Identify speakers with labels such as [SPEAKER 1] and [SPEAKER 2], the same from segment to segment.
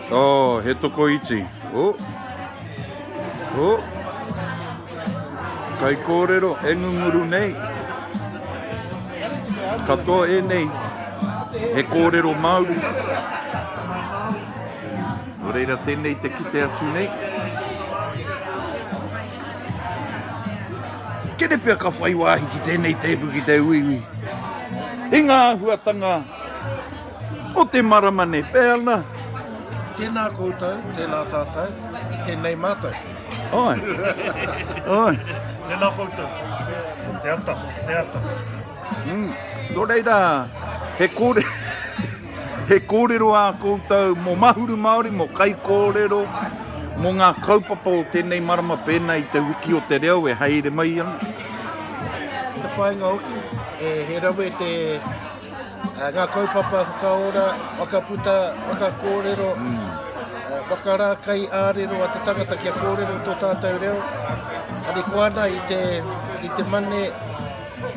[SPEAKER 1] Oh, he toko iti. Oh. Oh. Kai kōrero e ngunguru nei. Katoa e nei. He kōrero Māori. Nō reira tēnei te kite atu nei. Kene pia ka whai wāhi ki tēnei tēpu ki te uiui. I ngā huatanga. Ko te marama nei peana. Tēnā
[SPEAKER 2] koutou, tēnā tātou, tēnei mātou. Oi.
[SPEAKER 1] Oi. Tēnā
[SPEAKER 3] koutou. Te ata, te ata. Mm.
[SPEAKER 1] Tō reira, he kore... he kōrero ā koutou mō Mahuru Māori, mō kai kōrero, mō ngā kaupapa o tēnei marama pēnā i te wiki o te reo e haere mai ana.
[SPEAKER 2] Te whainga hoki, e he rawe te Ngā kaupapa whakaora, whakaputa, whakakōrero, whakarākai ā-rero a te tangata kia kōrero tō tātou reo. Ani ko ana i te, i te mane,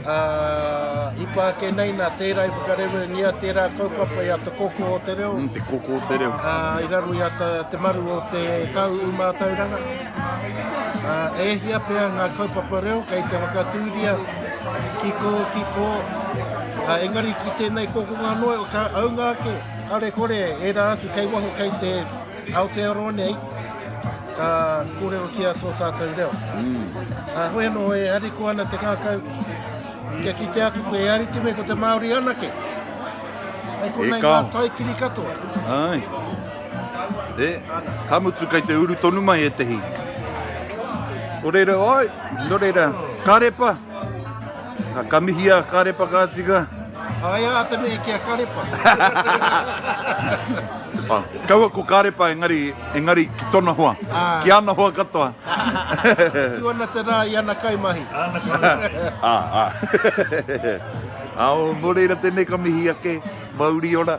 [SPEAKER 2] uh, i pāke nei nā tērā i whakarewengia tērā kaupapa i a te koko o te reo. Mm, te koko o te reo.
[SPEAKER 1] Uh, I raro i a te,
[SPEAKER 2] te maru o te tau umātauranga. E hia pea ngā kaupapa reo kei te whakatūria ki kō, ki kō, engari ki tēnei kokonga noa o kā aunga ake, a re kore e rā atu kei waho kei te Aotearoa nei, ka kōrerotia tō tātou reo. Mm. Hoi anō e hariko ana te kākau, kia ki te atu koe e ariki me ko te Māori anake. Hei konei ngā taikiri katoa. Ai.
[SPEAKER 1] E, ka mutu kei te uru tonu mai etehi. Ko reira, oi, no reira, karepa. Ka, ka mihi a karepa ka tika. Ai a te
[SPEAKER 2] mei ki a karepa.
[SPEAKER 1] Ah, kaua ko karepa engari, engari ki tona hoa, ah. ki ana hoa katoa.
[SPEAKER 2] tu ana te rā i ana kaimahi. Ana kaimahi. ah, ah.
[SPEAKER 1] Ao, no reira tēnei ka mihi ake, mauri ora.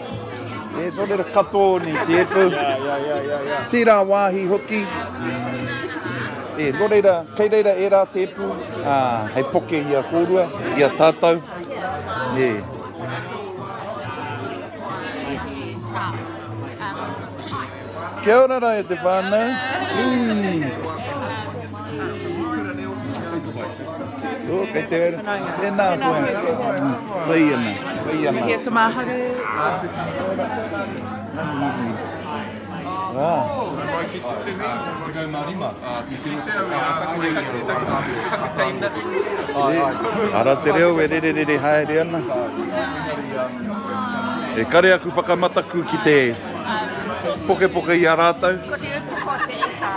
[SPEAKER 1] He tōrero katoa nei te epu. Tērā wāhi hoki. E, nō reira, kei reira e rā te epu, ā, hei poke i a kōrua, i a tātou. E. He Charles. Um, hi. Kia ora ra e te whanau. Oh, kei te ora. Tēnā koe. Whai ana, whai ana. Here to
[SPEAKER 4] Māhare.
[SPEAKER 1] Wow. Ara te reo e rere rere haere ana. E kare aku whakamataku ki te Pokepoke i a rātou. Ko te upoko te
[SPEAKER 4] ika.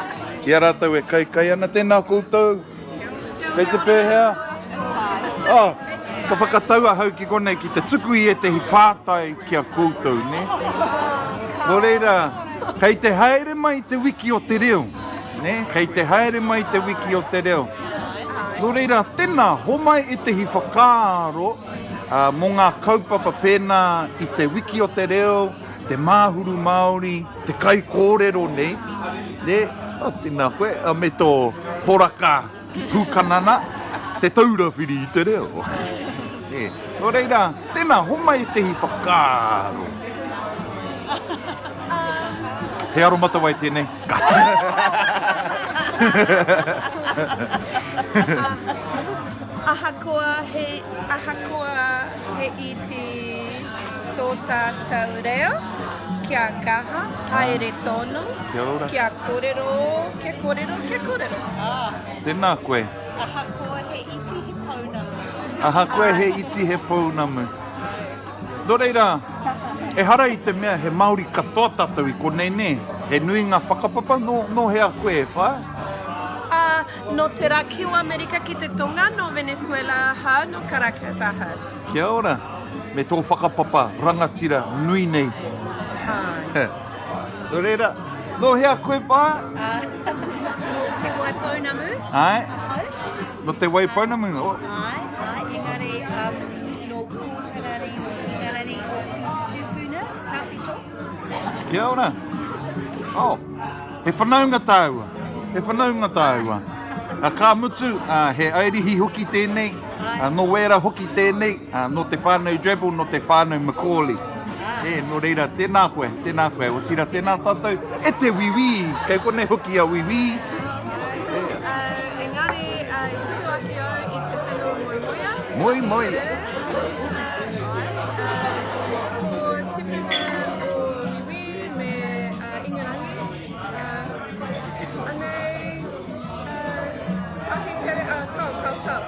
[SPEAKER 4] I a rātou e
[SPEAKER 1] kaikai ana, tēnā koutou. Kei te pēhea? Oh, ka whakatau ahau ki konei ki te tuku i ētehi pātai ki a koutou, nē? Nō reira, kei te haere mai i te wiki o te reo, nē? Kei te haere mai i te wiki o te reo. Nō reira, tēnā, homai ētehi whakaaro. Mō ngā kaupapa pēnā i Te Wiki o te Reo, Te Māhuru Māori, te kaikōrero nei, tēnā koe, me tō poraka pūkanana, Te Taura Whiri i te Reo. Nō reira, tēnā, homai ētehi whakaaro. He aromatawai tēnei.
[SPEAKER 4] Ahakoa he, ahakoa he iti tō tātou reo, kia kaha, haere tonu, kia
[SPEAKER 1] korero,
[SPEAKER 4] kia korero, kia korero.
[SPEAKER 1] Tēnā koe.
[SPEAKER 4] Ahakoa he
[SPEAKER 1] iti he pounamu. Ahakoa he iti he pounamu. Nō reira, ehara i te mea he Māori katoa tātou i konei, nē? He nui ngā whakapapa, nō, nō hea koe e whā? Ā,
[SPEAKER 4] nō te rā ki o Amerika ki te tonga, nō Venezuela aha, nō Caracas aha. Kia ora.
[SPEAKER 1] Me tō whakapapa rangatira nui nei. Āe. Nō reira, nō hea koe e whā? Ā,
[SPEAKER 4] nō Te Waipounamu, ahau.
[SPEAKER 1] No Te
[SPEAKER 4] Wai Pounamu?
[SPEAKER 1] Ae, ae,
[SPEAKER 4] engari um,
[SPEAKER 1] no
[SPEAKER 4] Pōtarari, no Ingarari, no Tupuna,
[SPEAKER 1] Tawhito. Kia ora. Oh, he whanaunga tāua. He whanaunga tāua. A ka mutu, uh, he airihi hoki tēnei, uh, no wēra hoki tēnei, Nō te whānau Drabble, nō te whānau Macaulay. E, nō reira, tēnā koe, tēnā koe, otirā tēnā tātou e te Wiwī, kei konei hoki a Wiwī.
[SPEAKER 4] Engari, i tū ake au i te whenua moemoeā. Moemoeā.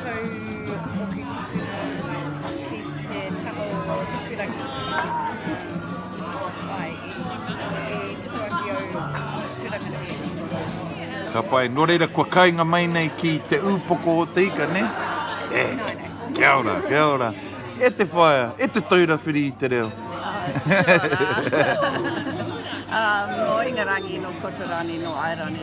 [SPEAKER 5] Tau moku tipuna ki te taha o Hikurangi. Ai, i, i tukuaki au ki Turanganui. Ka
[SPEAKER 1] pai, nō reira kua kainga mai nei ki te ūpoko o te ika, ne? E, kia ora, kia ora. E te whaea, e te taura whiri i te reo.
[SPEAKER 6] Nō Ingarangi, nō Kotorani, nō Airani.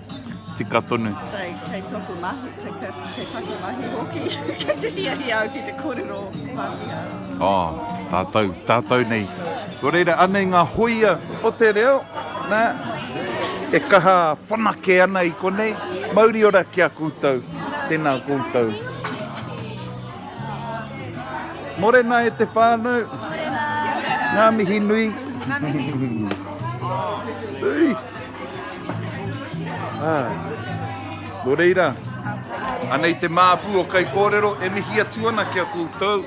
[SPEAKER 6] Tika
[SPEAKER 1] tonu. So, kei toku
[SPEAKER 6] mahi, kei taku mahi hoki, kei te hiahia au ki te korero Pākehā. Oh, tātou, tātou nei.
[SPEAKER 1] Ko reira, anei ngā hoia o te reo, nā, e kaha whanake ana i konei. Mauri ora ki a koutou, tēnā koutou. Morena e te whānau. Morena. Ngā mihi nui. Ngā mihi. Ui. Ah. Nō reira, anei te māpu o Kai Kōrero e mihi atu ana ki a koutou,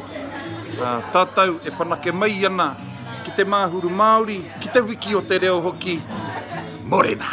[SPEAKER 1] ah, tātou e whanake mai ana ki te māhuru Māori, ki te wiki o te reo hoki, Morena!